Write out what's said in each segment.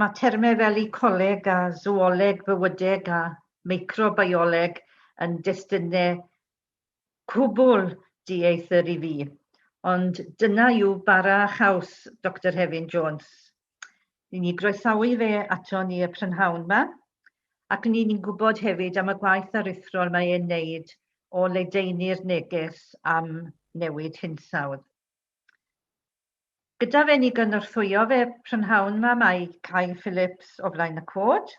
Mae termau fel ecoleg a sŵoleg fywydeg a meicrobioleg yn destunau cwbl dieithr i fi, ond dyna yw bara a chaws Doctor Hefin Jones. Ni'n ei groesawu fe ato ni y prynhawn 'ma, ac ni'n ni'n gwybod hefyd am y gwaith aruthrol mae e'n neud o ledaenu'r neges am newid hinsawdd. Gyda fe ni gynorthwyo fe prynhawn 'ma mae Kay Phillips o flaen y cod,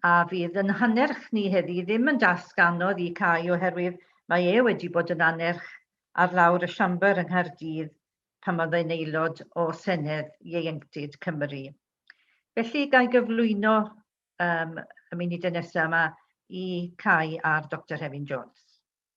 a fydd yn hannerch ni heddi ddim yn dasg anodd i Cai oherwydd mae e wedi bod yn annerch ar lawr y Siambr yng Nghaerdydd pan oedd e'n aelod o Senedd Ieuenctid Cymru. Felly, ga i gyflwyno um, y munudau nesaf yma i Cai a'r Doctor Hefin Jones.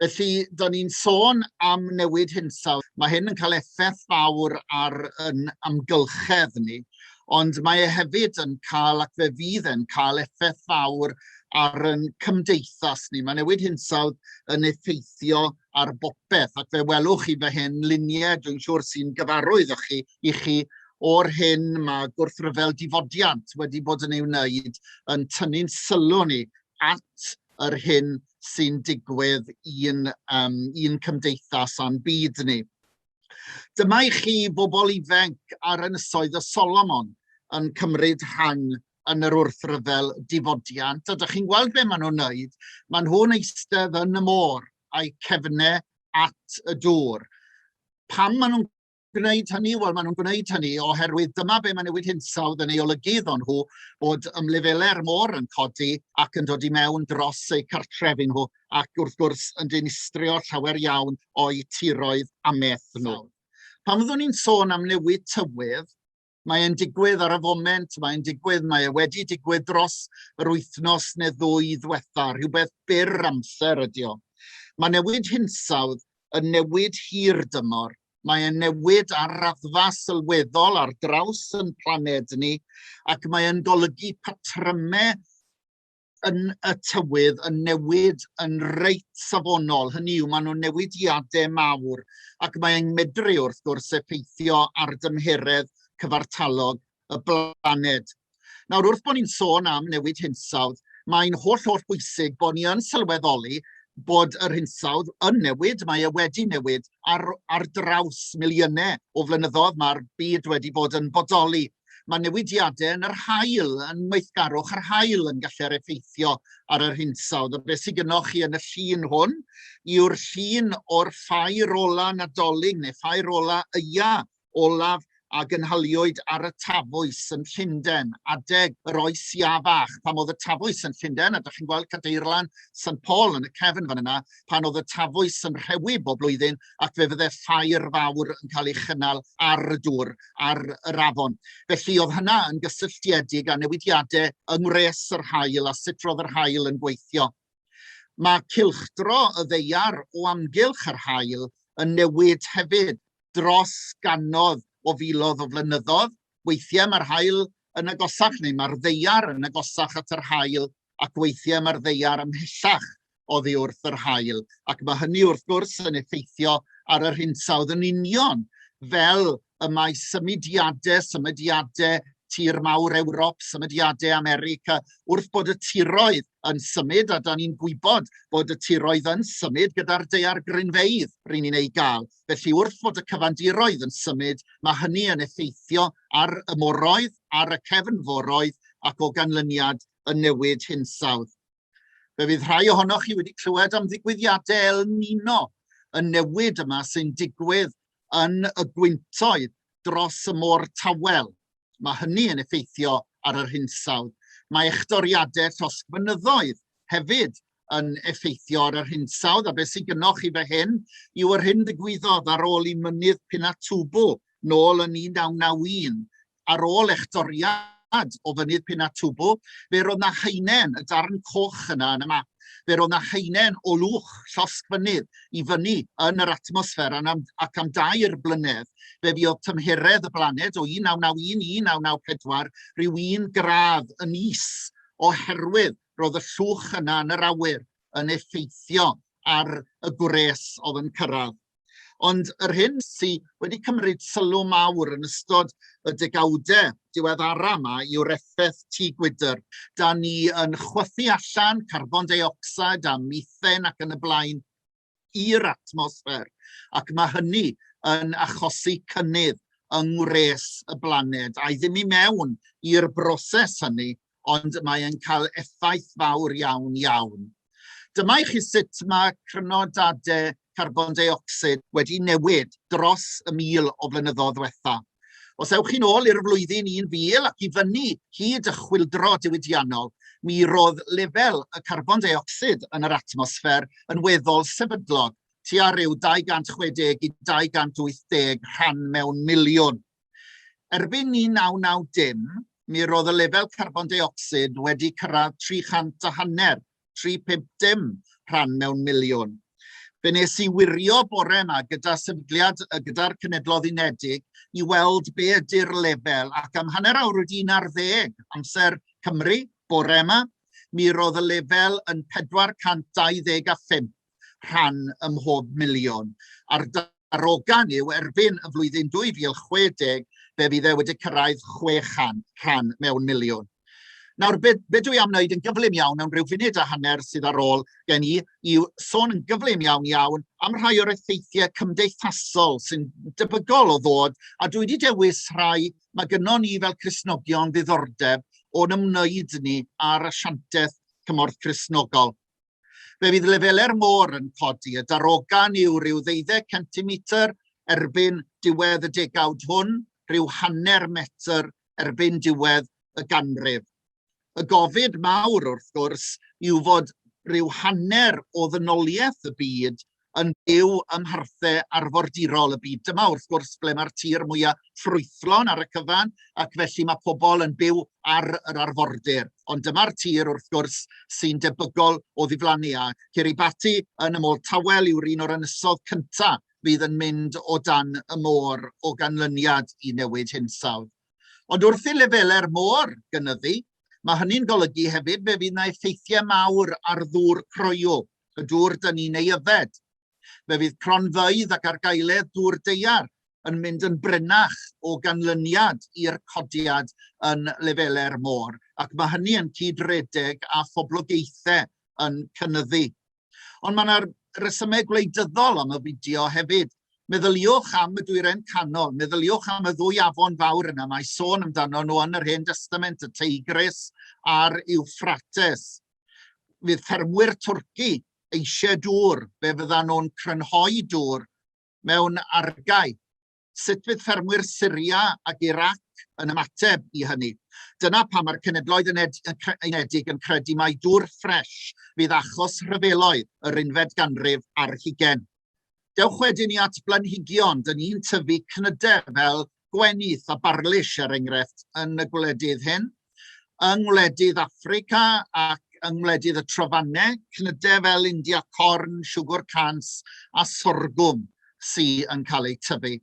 Felly, da ni'n sôn am newid hinsawdd. Mae hyn yn cael effaith fawr ar yn amgylchedd ni, ond mae e hefyd yn cael, ac fe fydd e'n cael effaith fawr ar yn cymdeithas ni. Mae newid hinsawdd yn effeithio ar bopeth, ac fe welwch chi fe hyn luniau, dwi'n siŵr sy'n gyfarwydd o'ch chi, i chi o'r hyn mae gwrthryfel difodiant wedi bod yn ei wneud yn tynnu'n sylw ni at yr hyn sy'n digwydd i'n, um, i'n cymdeithas a'n byd ni. Dyma i chi bobl ifanc ar ynysoedd y Solomon yn cymryd rhan yn yr wrthryfel difodiant. A dych chi'n gweld be maen nhw'n wneud? Maen nhw'n eistedd yn y môr a'i cefnau at y dŵr. Pam maen nhw'n gwneud hynny? Wel, maen nhw'n gwneud hynny oherwydd dyma be mae newid hinsawdd yn ei olygu iddo nhw, bod ymlefelau'r môr yn codi ac yn dod i mewn dros eu cartrefi nhw, ac wrth gwrs yn dinistrio llawer iawn o'u tiroedd a meth nhw. Pan fyddwn ni'n sôn am newid tywydd, Mae'n digwydd ar y foment, mae'n digwydd, mae e wedi digwydd dros yr wythnos neu ddwy ddwetha, rhywbeth byr amser ydy o. Mae newid hinsawdd yn newid hir dymor, mae e'n newid ar raddfa sylweddol ar draws yn planed ni, ac mae'n golygu patrymau yn y tywydd yn newid yn reit safonol. Hynny yw, maen nhw'n newidiadau mawr ac mae'n medru wrth gwrs effeithio ar dymheredd cyfartalog y blaned. Nawr, wrth bod ni'n sôn am newid hinsawdd, mae'n holl holl bwysig bod ni yn sylweddoli bod yr hinsawdd yn newid, mae e wedi newid ar, ar draws miliynau o flynyddoedd, mae'r byd wedi bod yn bodoli Mae newidiadau yn yr haul, yn weithgarwch yr haul yn gallu'r effeithio ar yr hinsawdd. A beth sydd gynnwch chi yn y llun hwn yw'r llun o'r ffair ola nadolig neu ffair ola yia olaf a gynhaliwyd ar y Tafwys yn Llundain, adeg yr oes ia fach, pan oedd y Tafwys yn Llundain, a da chi'n gweld Cadeirlan St Paul yn y cefn fan yna, pan oedd y tafwys yn rhewi bob blwyddyn ac fe fydde ffair fawr yn cael ei chynnal ar y dŵr, ar yr afon. Felly oedd hynna yn gysylltiedig â newidiadau yng ngwres yr haul a sut roedd yr haul yn gweithio. Mae cilchdro y ddeiar o amgylch yr haul yn newid hefyd dros ganodd o filodd o flynyddoedd. Weithiau mae'r haul yn agosach neu mae'r ddeiar yn agosach at yr haul ac weithiau mae'r ddeiar ymhellach oddi wrth yr haul, ac mae hynny wrth gwrs yn effeithio ar yr hinsawdd yn union, fel y mae symudiadau, symudiadau tir mawr Ewrop, symudiadau America, wrth bod y tiroedd yn symud, a da ni'n gwybod bod y tiroedd yn symud gyda'r deiar grinfeidd rydyn ni'n ei gael, Felly wrth fod y cyfandiroedd yn symud, mae hynny yn effeithio ar y moroedd, ar y cefnforoedd ac o ganlyniad yn newid hinsawdd. Fe fydd rhai ohonoch chi wedi clywed am ddigwyddiadau El Nino yn newid yma sy'n digwydd yn y gwyntoedd dros y môr tawel. Mae hynny yn effeithio ar yr hinsawdd. Mae echdoriadau llosg mynyddoedd hefyd yn effeithio ar yr hinsawdd, a beth sy'n gynnwch chi fe hyn yw yr hyn ddigwyddodd ar ôl i mynydd Pinatubo nôl yn 1991, ar ôl echdoriad gwlad o fynydd Pinatubo, fe roedd na haenen, y darn coch yna yn y map, fe roedd na haenen o lwch llosg fynydd i fyny yn yr atmosffer ac am dair blynedd fe fuodd tymheredd y blaned o 1991 i 1994 rhyw un gradd yn is oherwydd roedd y llwch yna yn yr awyr yn effeithio ar y gwres oedd yn cyrraedd Ond yr hyn sydd wedi cymryd sylw mawr yn ystod y degawdau diweddara yma yw'r effaith tŷ gwydr. Da ni yn chwythu allan carbon deuocsid a mithen ac yn y blaen i'r atmosffer, ac mae hynny yn achosi cynnydd yng ngwres y blaned, a'i ddim i mewn i'r broses hynny ond mae e'n cael effaith fawr iawn, iawn. Dyma i chi sut mae crynodadau carbon deuocsid wedi newid dros y mil o flynyddoedd ddiwetha'. Os ewch chi'n ôl i'r flwyddyn 1000 ac i fyny hyd y chwyldro diwydiannol, mi roedd lefel y carbon deuocsid yn yr atmosffer yn weddol sefydlog, tua ryw 260 i 280 rhan mewn miliwn. Erbyn 1990, mi roedd y lefel carbon deuocsid wedi cyrraedd 300 a hanner, 350 rhan mewn miliwn. Fe nes i wirio bore yma gyda sefydliad gyda'r Cenedloedd Unedig i weld be ydy'r lefel ac am hanner awr wedi un ar ddeg amser Cymru bore yma, mi roedd y lefel yn 425 rhan ym mhob miliwn. A'r darogan yw erbyn y flwyddyn 2060 fe fydd e wedi cyrraedd 600 rhan mewn miliwn. Nawr, be, be dwi am wneud yn gyflym iawn am ryw funud a hanner sydd ar ôl gen i, yw sôn yn gyflym iawn iawn am rhai o'r effeithiau cymdeithasol sy'n debygol o ddod, a dwi wedi dewis rhai mae gynnon ni fel Cresnogion ddiddordeb o'n ymwneud ni ar asiantaeth cymorth Cresnogol. Fe fydd lefelau'r môr yn codi, y darogan yw rhyw ddeuddeg centimetr erbyn diwedd y degawd hwn, rhyw hanner metr erbyn diwedd y ganrif. Y gofid mawr, wrth gwrs, yw fod rhyw hanner o ddynoliaeth y byd yn byw ym mharthau arfordirol y byd. Dyma wrth gwrs ble mae'r tir mwyaf ffrwythlon ar y cyfan ac felly mae pobl yn byw ar yr arfordir. Ond dyma'r tir wrth gwrs sy'n debygol o ddiflannu a Kiribati yn y môr tawel yw'r un o'r ynysodd cyntaf fydd yn mynd o dan y môr o ganlyniad i newid hinsawdd. Ond wrth i lefelau'r môr gynyddu, mae hynny'n golygu hefyd fe fydd yna effeithiau mawr ar ddŵr croyw Y dŵr dyn ni'n ei yfed. Fe fydd cronfeydd ac argaeledd dŵr daear yn mynd yn brinach o ganlyniad i'r codiad yn lefelau'r môr, ac mae hynny yn cyd-redeg â phoblogaethau yn cynyddu. Ond mae yna resymau gwleidyddol am y fideo hefyd. Meddyliwch am y dwyrain canol, meddyliwch am y ddwy afon fawr yna, mae sôn amdano nhw yn yr Hen Destament, y Teigris a'r Iwffrates. fydd ffermwyr twrci eisiau dŵr, fe fyddan nhw'n crynhoi dŵr mewn argae. Sut fydd ffermwyr Syria ac Irac yn ymateb i hynny? Dyna pam mae'r Cenedloedd Unedig yn credu mai dŵr ffres fydd achos rhyfeloedd yr unfed ganrif ar hugain. Dewch wedyn i at blanhigion. Dyn ni'n tyfu cnydau fel gwenith a barlish, er enghraifft, yn y gwledydd hyn. Yng ngwledydd Africa ac yng ngwledydd y trofannau, cnydau fel India corn, siwgr cans a sorgwm sy'n cael eu tyfu.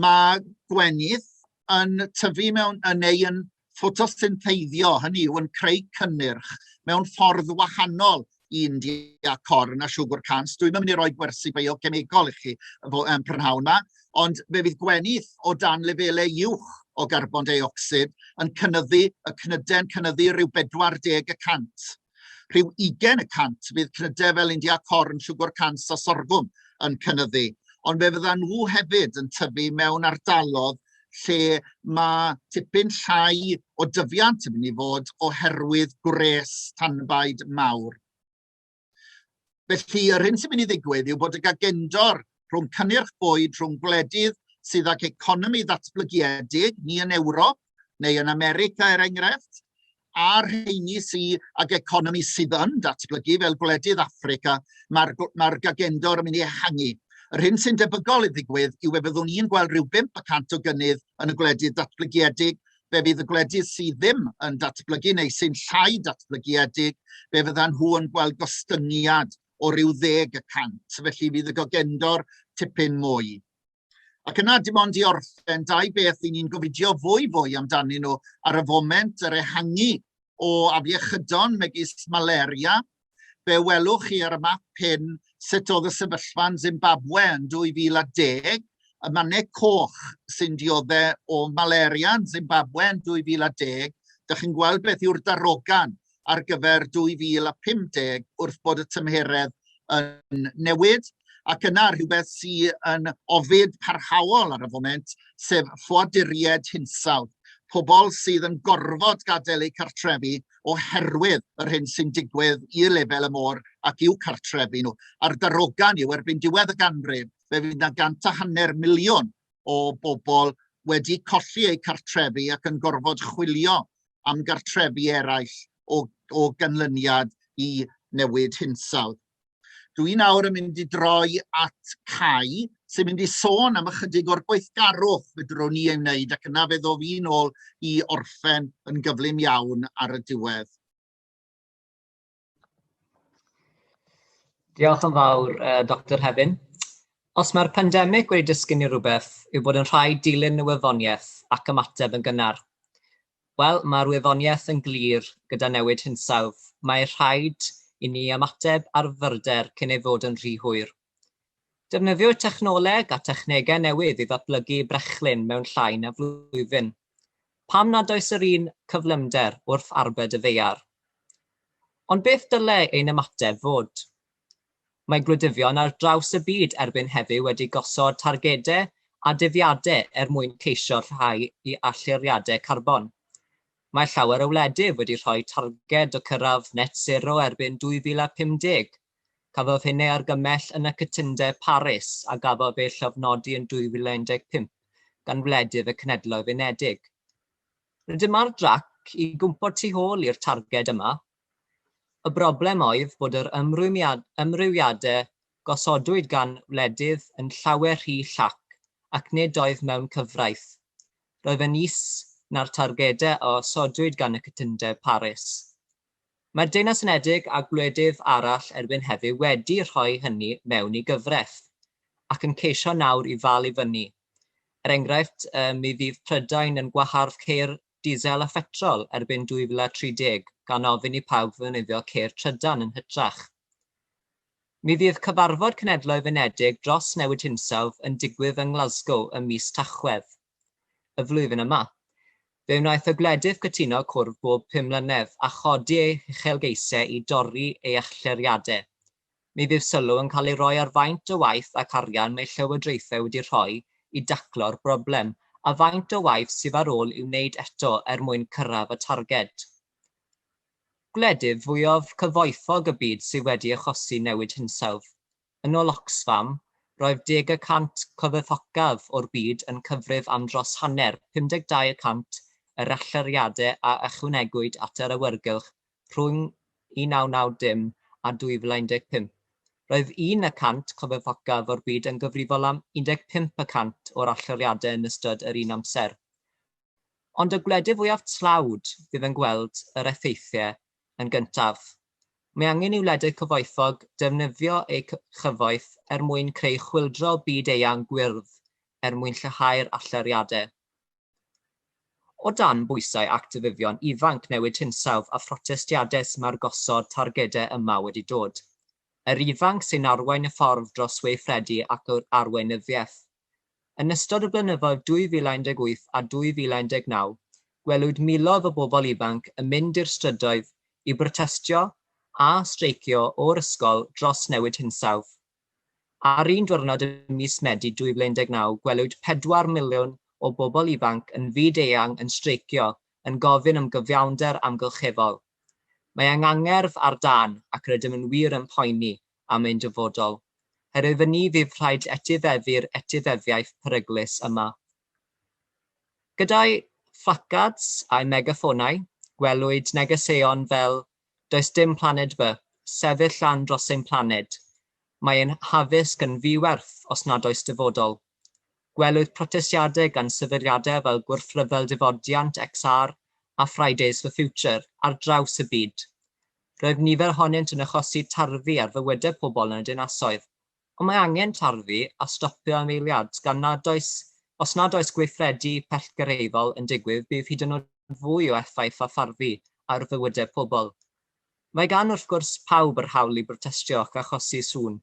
Mae gwenith yn tyfu mewn yn ei yn ffotosyntheiddio, hynny yw yn creu cynnyrch mewn ffordd wahanol i India corn a siwgr cans. Dwi'n mynd i roi gwersi biochemegol i chi yn prynhawn yma, ond fe fydd gwenith o dan lefelau uwch o garbon deuocsid yn cynnyddu y cnyden cynyddu rhyw 40 y cant. Rhyw 20 y cant fydd cnydau fel India corn, siwgr cans a sorgwm yn cynyddu, ond fe fyddan nhw hefyd yn tyfu mewn ardalodd lle mae tipyn llai o dyfiant yn mynd i fod oherwydd gwres tanbaid mawr. Felly, yr hyn sy'n mynd i ddigwydd yw bod y gagendor rhwng cynnyrch bwyd, rhwng gwledydd sydd ag economi ddatblygiedig, ni yn Ewrop neu yn America er enghraifft, a rheini sydd ag economi sydd yn datblygu fel gwledydd Africa, mae'r ma gagendor yn mynd i ehangu. Yr hyn sy'n debygol i ddigwydd yw fe fyddwn ni'n gweld rhyw 5% o gynnydd yn y gwledydd datblygiedig fe fydd y gwledydd sydd ddim yn datblygu neu sy'n llai datblygiedig, fe fyddan nhw yn gweld gostyngiad o ryw ddeg y cant, felly fydd y gogendor tipyn mwy. Ac yna, dim ond i orffen, dau beth i ni'n gofidio fwy fwy amdanyn nhw ar y foment, yr ehangu o afiechydon megis malaria Fe welwch chi ar y map hyn sut oedd y sefyllfa yn Zimbabwe yn 2010, y mannau coch sy'n dioddau o malaria yn Zimbabwe yn 2010, Dych chi'n gweld beth yw'r darogan ar gyfer 2050 wrth bod y tymheredd yn newid? Ac yna rhywbeth sydd yn ofid parhaol ar y foment, sef ffoaduriaid hinsawdd, pobl sydd yn gorfod gadael eu cartrefi oherwydd yr hyn sy'n digwydd i lefel y môr ac i'w cartrefi nhw. A'r darogan yw, erbyn diwedd y ganrif, fe fydd yna gant a hanner miliwn o bobl wedi colli eu cartrefi ac yn gorfod chwilio am gartrefi eraill o, o ganlyniad i newid hinsawdd. Dw i nawr yn mynd i droi at Cai, sy'n mynd i sôn am ychydig o'r gweithgarwch fydrwn ni ei wneud ac yna fe ddof i'n ôl i orffen yn gyflym iawn ar y diwedd. Diolch yn fawr, uh, Dr Hefin. Os mae'r pandemig wedi dysgu ni rhywbeth, yw bod yn rhaid dilyn y wyddoniaeth ac ymateb yn gynnar. Wel, mae'r wyddoniaeth yn glir, gyda newid hinsawdd, mae rhaid i ni ymateb ar fyrder cyn ei fod yn rhy hwyr. Defnyddiwyd technoleg a technegau newydd i ddatblygu brechlyn mewn llai na flwyddyn. Pam nad oes yr un cyflymder wrth arbed y ddaear? Ond beth dylai ein ymateb fod? Mae gwleidyddion ar draws y byd erbyn heddiw wedi gosod targedau a dyddiadau er mwyn ceisio rhyddhau i allyriadau carbon. Mae llawer o wledydd wedi rhoi targed o cyrraedd net sero erbyn 2050. Cafodd hyn ei argymell yn y Cytundeb Paris a gafodd ei llofnodi yn 2015 gan wledydd y Cenhedloedd Unedig. Rydym ar drac i gwmpo tu ôl i'r targed yma Y broblem oedd bod yr ymrwymiadau gosodwyd gan wledydd yn llawer rhy llac ac nid oedd mewn cyfraith. Roedd yn is na'r targedau a osodwyd gan y cytundeb Paris. Mae'r Deyrnas Unedig a gwledydd arall erbyn heddiw wedi rhoi hynny mewn i gyfraith, ac yn ceisio nawr i ddal i fyny. Er enghraifft, mi fydd Prydain yn gwahardd ceir Diesel a Phetrol erbyn 2030 gan ofyn i pawb ddefnyddio ceir trydan yn hytrach. Mi fydd cyfarfod Cenhedloedd Unedig dros Newid Hinsawdd yn digwydd yng Nglasgow ym mis Tachwedd y flwyddyn yma. Fe wnaeth y gwledydd gytuno cwrdd bob pum mlynedd a chodi eu huchelgeisiau i dorri ei allyriadau Mi fydd sylw yn cael ei roi ar faint o waith ac arian mae llywodraethau wedi rhoi i daclo'r broblem, a faint o waith sydd ar ôl i'w wneud eto er mwyn cyrraedd y targed. Gwledydd fwyaf cyfoethog y byd sydd wedi achosi newid hinsawdd. Yn ôl Oxfam, roedd deg y cant cyfoethocaf o'r byd yn cyfrif am dros hanner, 52 y cant, yr allyriadau a ychwanegwyd at yr awyrgylch rhwng 1990 a 2015. Roedd un y cant cofebocaf o'r byd yn gyfrifol am 15 y cant o'r allyriadau yn ystod yr un amser. Ond y gwledydd fwyaf tlawd fydd yn gweld yr effeithiau yn gyntaf. Mae angen i wledydd cyfoethog defnyddio eu cyfoeth er mwyn creu chwyldro byd-eang gwyrdd er mwyn lleihau'r allyriadau. O dan bwysau actifyddion ifanc newid hinsawdd a phrotestiadau mae'r gosod targedau yma wedi dod. Yr ifanc sy'n arwain y ffordd dros weithredu ac yr arweinyddiaeth. Yn ystod y blynyddoedd 2018 a 2019, gwelwyd miloedd o bobl ifanc yn mynd i'r strydoedd i brotestio a streicio o'r ysgol dros newid hinsawdd. Ar un diwrnod ym mis Medi 2019 gwelwyd pedwar miliwn o bobl ifanc yn fyd-eang yn streicio yn gofyn am gyfiawnder amgylcheddol. Mae angangerdd ar dân ac rydym yn wir yn poeni am ein dyfodol. Her iddyn ni fydd rhaid etifeddu'r etifeddiaeth peryglus yma. Gyda'i phlacards a'i megaffônau, gwelwyd negeseuon fel Does dim planed B. Sefyll lân dros ein planed. Mae ein haddysg yn ddi-werth os nad oes dyfodol. Gwelwyd protestiadau gan sefydliadau fel Gwrthryfel Difodiant, XR, a Fridays for Future ar draws y byd. Roedd nifer ohonynt yn achosi tarddu ar fywydau pobl yn y dinasoedd, Ond mae angen tarfu a stopio am eiliad, gan nad oes, os nad oes gweithredu pellgyrhaeddol yn digwydd bydd hyd yn oed fwy o effaith a tharfu ar fywydau pobl. Mae gan wrth gwrs pawb yr hawl i brotestio ac achosi sŵn.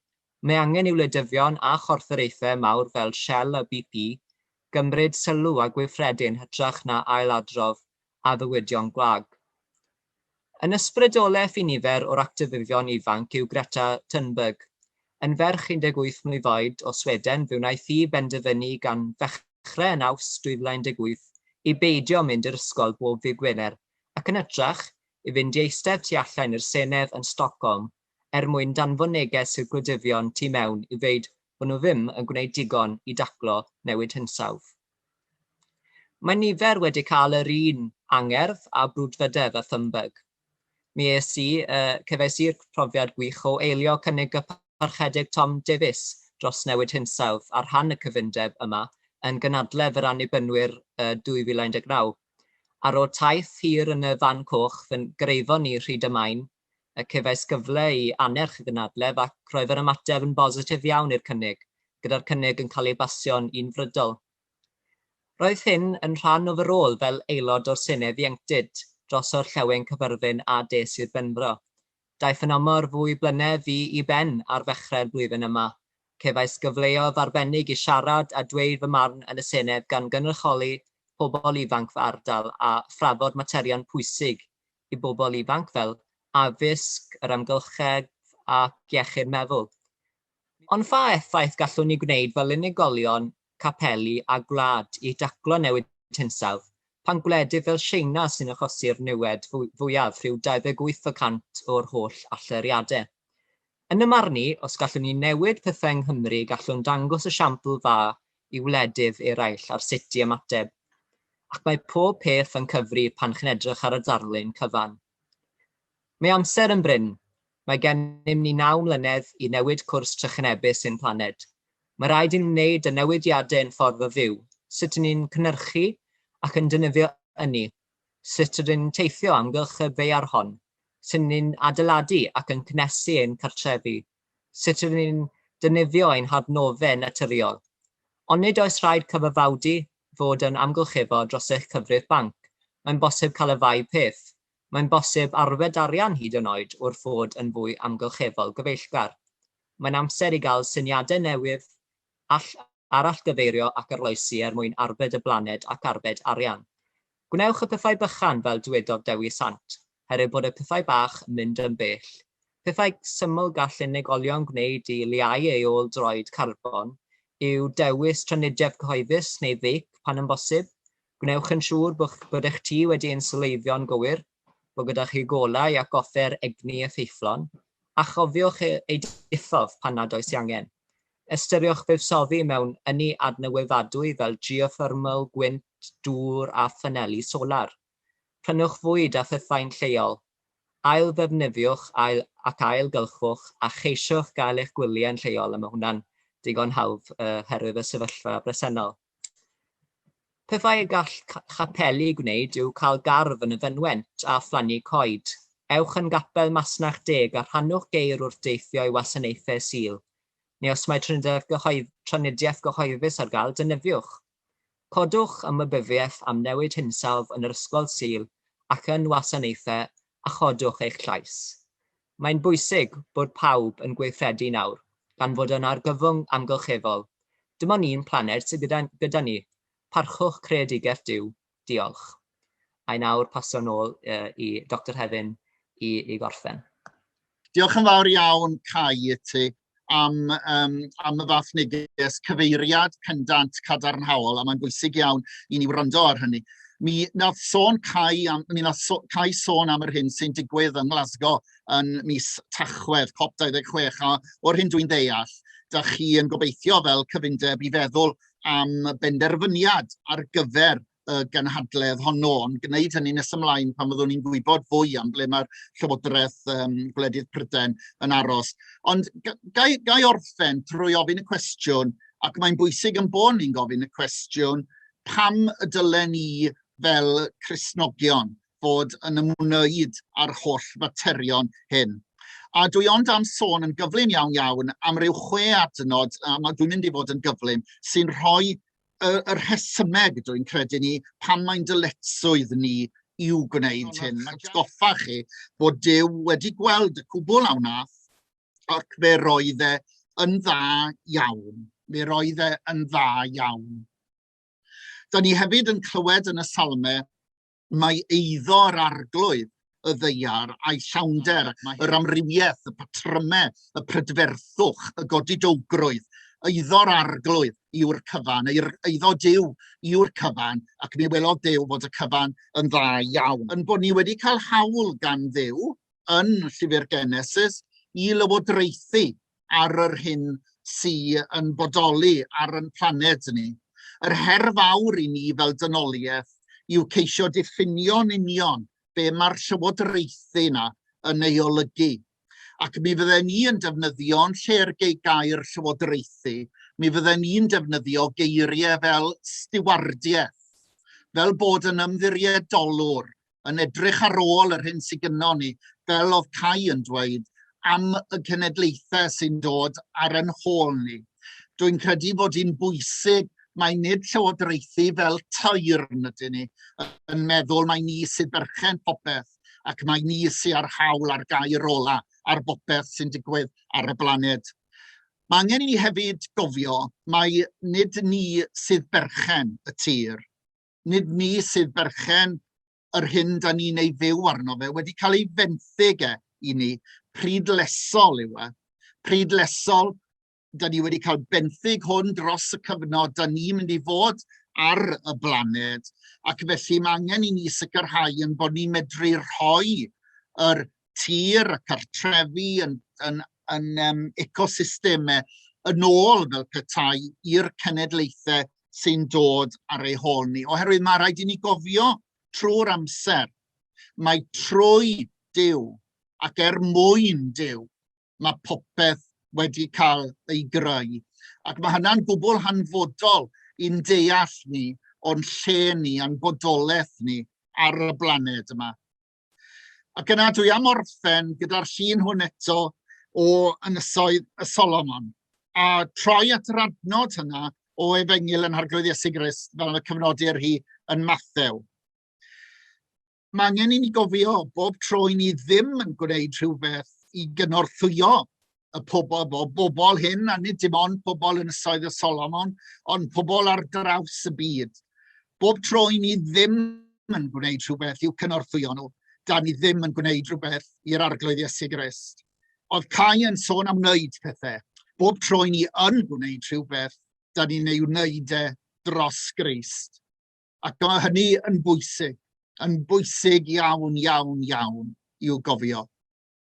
Mae angen i wleidyddion a chorfforaethau mawr fel Shell a BP gymryd sylw a gweithredu yn hytrach na ail-adrodd addewidion gwag. Yn ysbrydoleth i nifer o'r actifyddion ifanc yw Greta Thunberg. Yn ferch 18 mlwydd oed o Sweden fe wnaeth hi benderfynu gan ddechrau yn Awst 2018 i beidio mynd i'r ysgol bob ddydd Gwener ac yn hytrach i fynd i eistedd tu allain i'r Senedd yn Stockholm er mwyn danfon neges i'r gwleidyddion tu mewn i ddweud bod nhw ddim yn gwneud digon i daclo newid hinsawdd. Mae nifer wedi cael yr un angerdd a brwdfrydedd â Thunberg. Mi es i, cefais i'r profiad gwych o eilio cynnig y Parchedig Tom Davies dros newid hinsawdd ar rhan y cyfundeb yma yn gynadledd yr Annibynwyr 2019. Ar ôl taith hir yn y fan coch, fy ngreifo ni rhy damai'n y cefais gyfle i annerch y gynadledd ac roedd yr ymateb yn bositif iawn i'r cynnig, gyda'r cynnig yn cael ei basio'n unfrydol. Roedd hyn yn rhan o fy rôl fel Aelod o'r Senedd Ieuenctid dros Orllewin Caerfyrddin a des i'r Benfro. Daeth yn amor fwy blynedd fi i ben ar ddechrau'r flwyddyn yma. Cefais gyfleoedd arbennig i siarad a dweud fy marn yn y Senedd gan gynrychioli pobl ifanc fy ardal a thrafod materion pwysig i bobl ifanc fel addysg, yr amgylchedd ac iechyd meddwl. Ond pha effaith gallwn ni gwneud fel unigolion, capeli a gwlad i daclo newid hinsawdd pan gwledydd fel Tsieina sy'n achosi'r niwed fwyaf, rhyw 28 y cant o'r holl allyriadau? Yn y marn i, os gallwn ni newid pethau yng Nghymru gallwn dangos esiampl dda i wledydd eraill ar sut i ymateb. Ac mae pob peth yn cyfri pan chi'n edrych ar y darlun cyfan. Mae amser yn brin. Mae gennym ni naw mlynedd i newid cwrs trychinebus ein planed. Mae rhaid i ni wneud y newidiadau yn ffordd o fyw, sut 'yn ni'n cynyrchu ac yn defnyddio ynni, Sut rydyn ni'n teithio o amgylch y ddaear hon? Sut rydyn ni'n adeiladu ac yn cynhesu ein cartrefi? Sut rydyn ni'n defnyddio ein hadnoddau naturiol? Ond nid oes rhaid cyfaddawdu fod yn amgylcheddol dros eich cyfrif banc. Mae'n bosib cael y ddau peth. Mae'n bosib arfer arian hyd yn oed wrth fod yn fwy amgylcheddol gyfeillgar. Mae'n amser i gael syniadau newydd All arallgyfeirio ac arloesi er mwyn arbed y blaned ac arbed arian. Gwnewch y pethau bychan fel dywedodd Dewi Sant, herwydd bod y pethau bach yn mynd yn bell. Pethau syml gall unigolion gwneud i leihau ei ôl droed carbon yw dewis trafnidiaeth gyhoeddus neu feic pan yn bosib. Gwnewch yn siŵr bod eich tŷ wedi inswleiddio'n gywir. bod gyda chi golau ac offer egni effeithlon, a chofiwch eu diffodd pan nad oes ei angen. Ystyriwch fuddsoddi mewn ynni adnewyddadwy fel geothermol, gwynt, dŵr a phaneli solar. Prynwch fwyd a phythau'n lleol. Ail-ddefnyddiwch ac ail-gylchwch a cheisiwch gael eich gwyliau'n lleol a mae hwnna'n digon hawdd oherwydd y sefyllfa bresennol. Pethau y gall chapeli gwneud yw cael gardd yn y fynwent a phlannu coed. Ewch yn Gapel Masnach Deg a rhannwch geir wrth deithio i wasanaethau Sul, neu os mae trafnidiaeth gyhoeddus ar gael, defnyddiwch. Codwch ymwybyddiaeth am newid hinsawdd yn yr Ysgol Sul ac yn wasanaethau a chodwch eich llais. Mae'n bwysig bod pawb yn gweithredu nawr, gan fod yn argyfwng amgylcheddol. Dim ond un planed sydd gyda gyda ni. Parchwch creadigaeth Duw. Diolch. A i nawr pasio nôl i Doctor Hefin i i gorffen. Diolch yn fawr iawn, Cai, i ti. am yym am y fath neges cyfeiriad pendant cadarnhaol, a mae'n bwysig iawn i ni wrando ar hynny. Mi wnaeth sôn Cai am, mi wnaeth so, Cai sôn am yr hyn sy'n digwydd yng Nglasgow yn mis Tachwedd, COP26, a o'r hyn dwi'n ddeall, da chi yn gobeithio fel cyfundeb i feddwl am benderfyniad ar gyfer y ganhadledd honno, ond gwneud hynny nes ymlaen pan fyddwn ni'n gwybod fwy am ble mae'r Llywodraeth um, Gwledydd Prydain yn aros. Ond gai, gai orffen trwy ofyn y cwestiwn, ac mae'n bwysig yn bod ni'n gofyn y cwestiwn, pam y dylen ni fel Cresnogion fod yn ymwneud â'r holl faterion hyn? A dwi ond am sôn yn gyflym iawn iawn am ryw chwe adnod, a dwi'n mynd i fod yn gyflym, sy'n rhoi y, y rhesymeg, dwi'n credu ni, pan mae'n dyletswydd ni i'w gwneud hyn. Mae'n goffa chi bod Dyw wedi gweld y cwbl a wnaeth, ac fe roedd e yn dda iawn. Fe roedd e yn dda iawn. Da ni hefyd yn clywed yn y salmau mae eiddo yr arglwydd, y ddeiar a'i llawnder, yr amrywiaeth, y patrymau, y prydferthwch, y godidowgrwydd, eiddo'r arglwydd yw'r cyfan, neu'r eiddo Dyw yw'r cyfan, ac mi welodd Dyw fod y cyfan yn dda iawn. Yn bod ni wedi cael hawl gan Dduw yn llyfr Genesis i lywodraethu ar yr hyn sy yn bodoli ar yn planed ni. Yr her fawr i ni fel dynoliaeth yw ceisio diffinio'n union be mae'r llywodraethu yna yn ei olygu. Ac mi fydden ni yn defnyddio yn lle'r gei gair llywodraethu, mi fydden ni'n defnyddio geiriau fel stiwardiaeth, fel bod yn ymddiriedolwr yn edrych ar ôl yr hyn sydd gynnon ni, fel oedd Cai yn dweud, am y cenedlaethau sy'n dod ar yn hôl ni. Dwi'n credu bod hi'n bwysig mae nid llywodraethu fel tairn ydyn ni yn meddwl mae ni sydd berchen popeth ac mae ni sydd â'r hawl ar gair ola ar bopeth sy'n digwydd ar y blaned. Mae angen i ni hefyd gofio mae nid ni sydd berchen y tir. nid ni sydd berchen yr hyn da ni'n ei fyw arno fe, wedi cael ei fenthyg e i ni, pryd lesol yw e. Pryd lesol, da ni wedi cael benthyg hwn dros y cyfnod da ni'n mynd i fod ar y blaned, ac felly mae angen i ni sicrhau yn bod ni'n medru rhoi yr tir a cartrefi yn, yn, yn um, ecosystemau yn ôl fel petai i'r cenedlaethau sy'n dod ar ei hôl ni. Oherwydd mae rhaid i ni gofio trwy'r amser, mae trwy Dyw ac er mwyn Dyw, mae popeth wedi cael ei greu. Ac mae hynna'n gwbl hanfodol i'n deall ni o'n lle ni a'n bodolaeth ni ar y blaned yma. Ac yna dwi am orffen gyda'r llun hwn eto o Ynysoedd y Solomon, a troi at yr adnod hynna o efengyl yn harglwydd Iesu Grist fel y cyfnodir hi yn Mathew. Mae angen i ni gofio bob tro i ni ddim yn gwneud rhywbeth i gynorthwyo y pobol, bo, bobl hyn, a nid dim ond pobl yn ysoedd y Solomon, ond pobl ar draws y byd. Bob tro i ni ddim yn gwneud rhywbeth i'w cynorthwyo nhw, da ni ddim yn gwneud rhywbeth i'r arglwydd Iesu Grist. Oedd Cai yn sôn am wneud pethau. Bob tro i ni yn gwneud rhywbeth, da ni'n ei wneud e dros Grist. Ac mae hynny yn bwysig, yn bwysig iawn, iawn, iawn i'w gofio.